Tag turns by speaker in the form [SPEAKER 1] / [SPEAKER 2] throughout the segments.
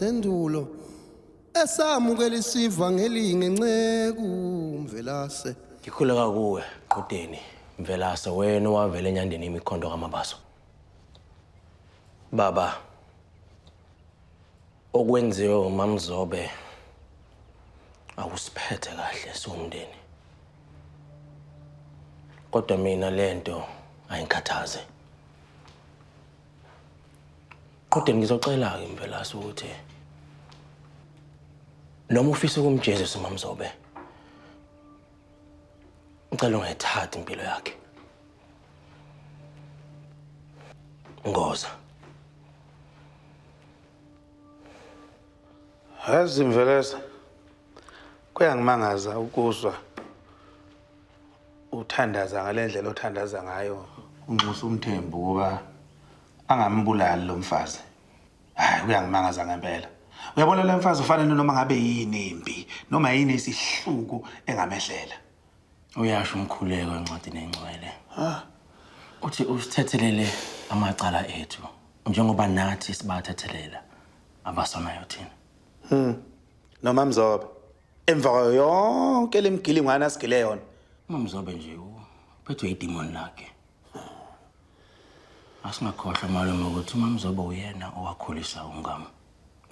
[SPEAKER 1] Sendulo esamukela isiva ngelinge nceku mvelase. Ngikhuleka
[SPEAKER 2] kuwe qudeni mvelase wena owavela enyandeni imikhondo kamabaso. Baba okwenziwe umamzobe akusiphethe kahle siwumndeni. Kodwa mina lento ayingikhathaze. Qhuden ngizocela-ke Mvelase ukuthi noma ufisa ukumjezisa uMamzobe ngicela ungayithathi impilo yakhe. Ngoza.
[SPEAKER 3] Yazi Mvelase kuyangimangaza ukuzwa uthandaza ngale ndlela othandaza ngayo unxusa umthembu ukuba angambulali lo mfazi hayi uyangimangaza ngempela uyabona le mfazi ufanele noma ngabe yini imbi noma yini isihluku engamehlela uyasho
[SPEAKER 2] umkhuleko encwadini engcwele uthi usithethelele amacala ethu njengoba nathi sibathethelela abasonayo thina hmm. noma
[SPEAKER 3] mzobe emva kwayo yonke le mgilingwane asigile yona umamzobe nje
[SPEAKER 2] uphethwe idimoni lakhe asingakhohlwa malume ukuthi umamzobe uyena owakhulisa ungam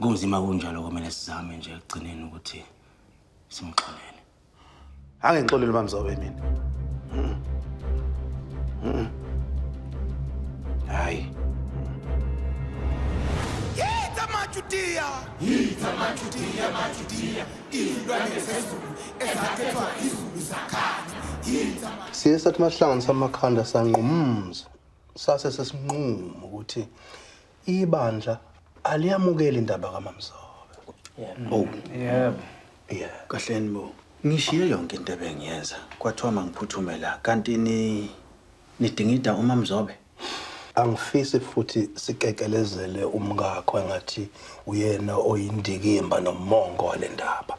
[SPEAKER 2] kunzima kunjalo kumele sizame nje ekugcineni ukuthi simxolele
[SPEAKER 3] angengixolele umamzobe mina hayi Yitha
[SPEAKER 4] majudiya Yithi amaJudiya, amaJudiya, iy'lwane zezulu ezakhethwa izulu zakhanya. Yithi ama- siye sathi uma
[SPEAKER 1] sihlanganisa amakhanda sanqumza sase sesinqumo ukuthi ibandla aliyamukeli indaba kamamzobe oh
[SPEAKER 5] yebo
[SPEAKER 1] yeah kahleni
[SPEAKER 5] bo ngishiye yonke into ebengiyenza kwathiwa mangiphuthume la kanti ni nidingida umamzobe angifisi
[SPEAKER 1] futhi sikekelezele umkakho engathi uyena oyindikimba nomongo wale ndaba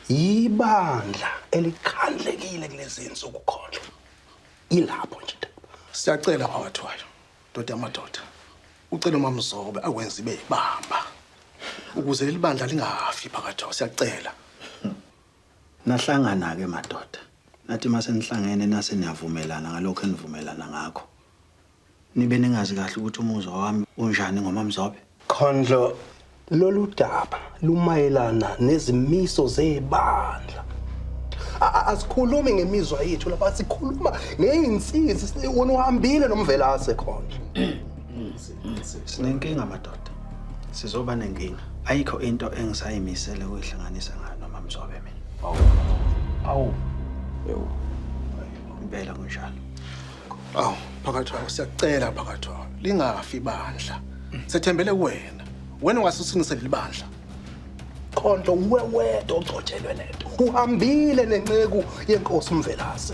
[SPEAKER 1] yibandla elikhandlekile kulezi nsuku khona ilapho nje siyacela
[SPEAKER 6] kwawathwayo ndoda yamadoda ucela umamzobe akwenza ibe yibamba ukuze leli bandla lingafi phakathi siyacela Nahlangana-ke
[SPEAKER 5] madoda, nathi uma senihlangene nase niyavumelana ngalokho enivumelana ngakho. Nibe ningazi kahle ukuthi umuzwa wami unjani ngoMamzobe? Khondlo,
[SPEAKER 1] lolu daba lumayelana nezimiso zebandla. Asikhulumi ngemizwa yethu lapha, sikhuluma ngey'nsizi, wena uhambile nomvelase Khondlo. sinenkinga
[SPEAKER 5] madoda sizoba nenkinga ayikho into engisayimisele ukuyihlanganisa ngayo noma mzobe mina awu awu
[SPEAKER 1] yebo
[SPEAKER 5] impela kunjalo awu
[SPEAKER 6] phakathi wawo siyacela phakathi wawo lingafi ibandla sethembele kuwena wena ungasusinise leli bandla
[SPEAKER 1] Khonto uwewede ogcotshelwe nento. Uhambile nenceku yenkosi uMvelase.